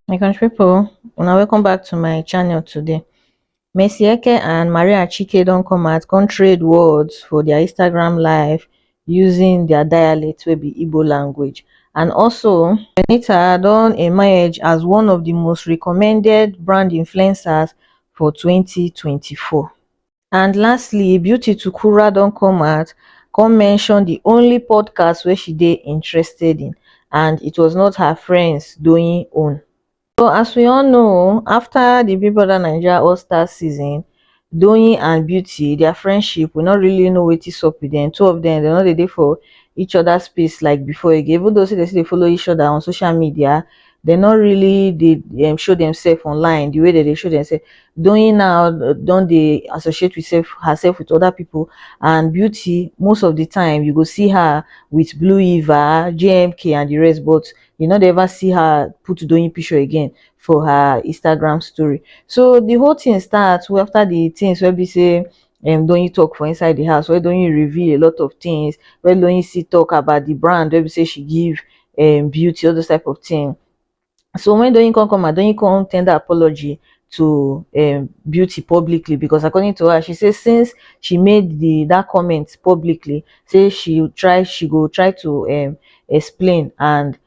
my country people una welcome back to my channel today Mercy Eke and Maria Chike don't come out come trade words for their Instagram live using their dialect will be Igbo language and also Benita don't emerge as one of the most recommended brand influencers for 2024 and lastly beauty tukura don come out come mention di only podcast wey she dey interested in and it was not her friends doyin own so as we all know afta di big brother naija all stars season doyin and beauty dia friendship we no really know wetin sup with dem two of dem dem no dey dey for each oda space like before again even though say dem still dey follow each oda on social media dem no really dey um show demself online the way dem dey show demself. Doyin now don dey associate with self herself with other people and Beauty most of the time you go see her with Blue Eva, JMK and the rest but you no dey ever see her put Doyin picture again for her Instagram story. So the whole thing start after the things wey be sey um Doyin talk for inside the house, wey Doyin reveal a lot of things, wey Doyin still talk about the brand wey be say she give um beauty, all those type of thing. So when Doyin come come out, Doyin come tender apology to um beauty publicly because according to her, she say since she made the that comment publicly, say she try she go try to um explain and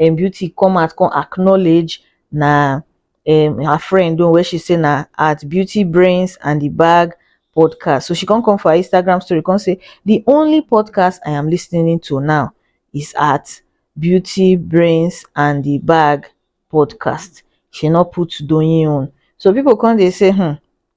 um beauty come out come acknowledge na um her friend own wey she say na at beautybrainsandthebag podcast so she come come for her instagram story come say the only podcast i am listening to now is at beauty brains and the bag podcast she no put doyin own so people come dey say hmm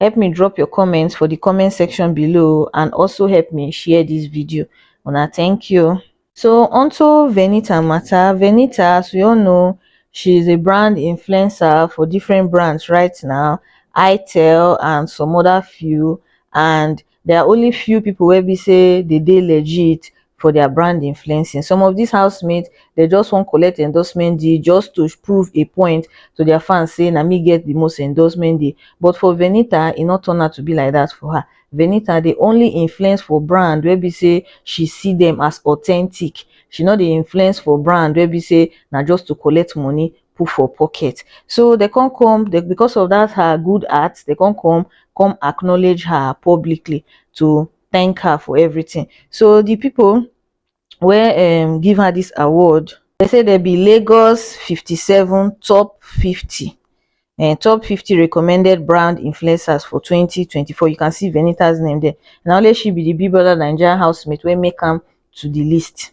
help me drop your comment for the comment section below and also help me share this video una thank you so onto venita matter venita as we all know she is a brand influencer for different brands right now itel and some other few and There are only few people wey be say they dey legit for their brand influencing. Some of these housemates, they just want collect endorsement deal just to prove a point to their fans say na me get the most endorsement deal. But for Venita, e no turn out to be like that for her. Venita dey only influence for brand wey be say she see them as authentic. She no dey influence for brand wey be say na just to collect money put for pocket. So they can't come they, because of that her good art, they can't come come acknowledge her publicly to thank her for everything. So the people where um give her this award, they say there be Lagos 57 top 50 and eh, top 50 recommended brand influencers for 2024 you can see venita's name there Now let she be the big brother nigerian housemate wey make come to the list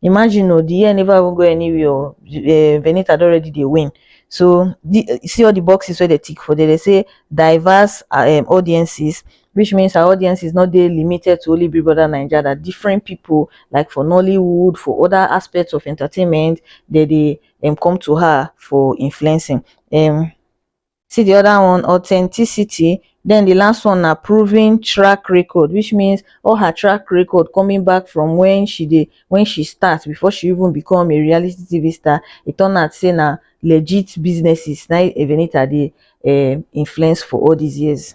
imagine oo the year never even go anywhere oo um Venita don already dey win so the see all the boxes wey dem tick for there dem say diverse um audiences which means her audiences no dey limited to only Big Brother Naija that different people like for Nollywood for other aspects of entertainment dem dey um come to her for influencing um see di other one authenticity then di last one na proven track record which means all her track record coming back from when she dey when she start before she even become a reality TV star e turn out say na legit businesses na Evenita dey um influence for all these years.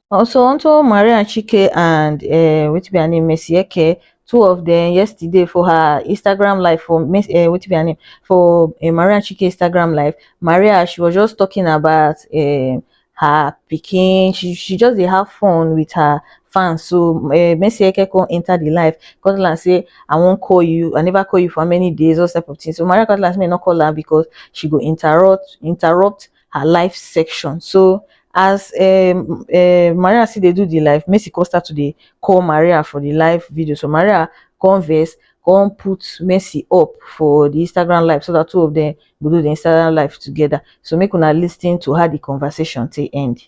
also onto maria chike and um wetin be her name mercy eke two of dem yesterday for her instagram live for um wetin be her name for um maria chike instagram live maria she was just talking about um her pikin she she just dey have fun with her fans so um mercy eke come enter the live come tell am say i wan call you i never call you for how many days all those type of thing so maria come tell am say make e no call am because she go interrupt interrupt her life section so as um um maria still dey do the live messi come start to dey call maria for the live video so maria come vex come put messi up for the instagram live so that two of them go do the instagram live together so make una lis ten to how the conversation take end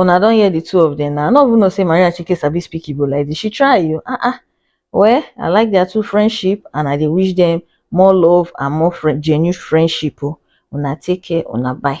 Una don hear the two of them now. I no even know say Maria Chike sabi speak Igbo like this. She try you. Ah ah. Well, I like their two friendship and I dey wish them more love and more friend, genuine friendship. Oh. Una take care. Una bye.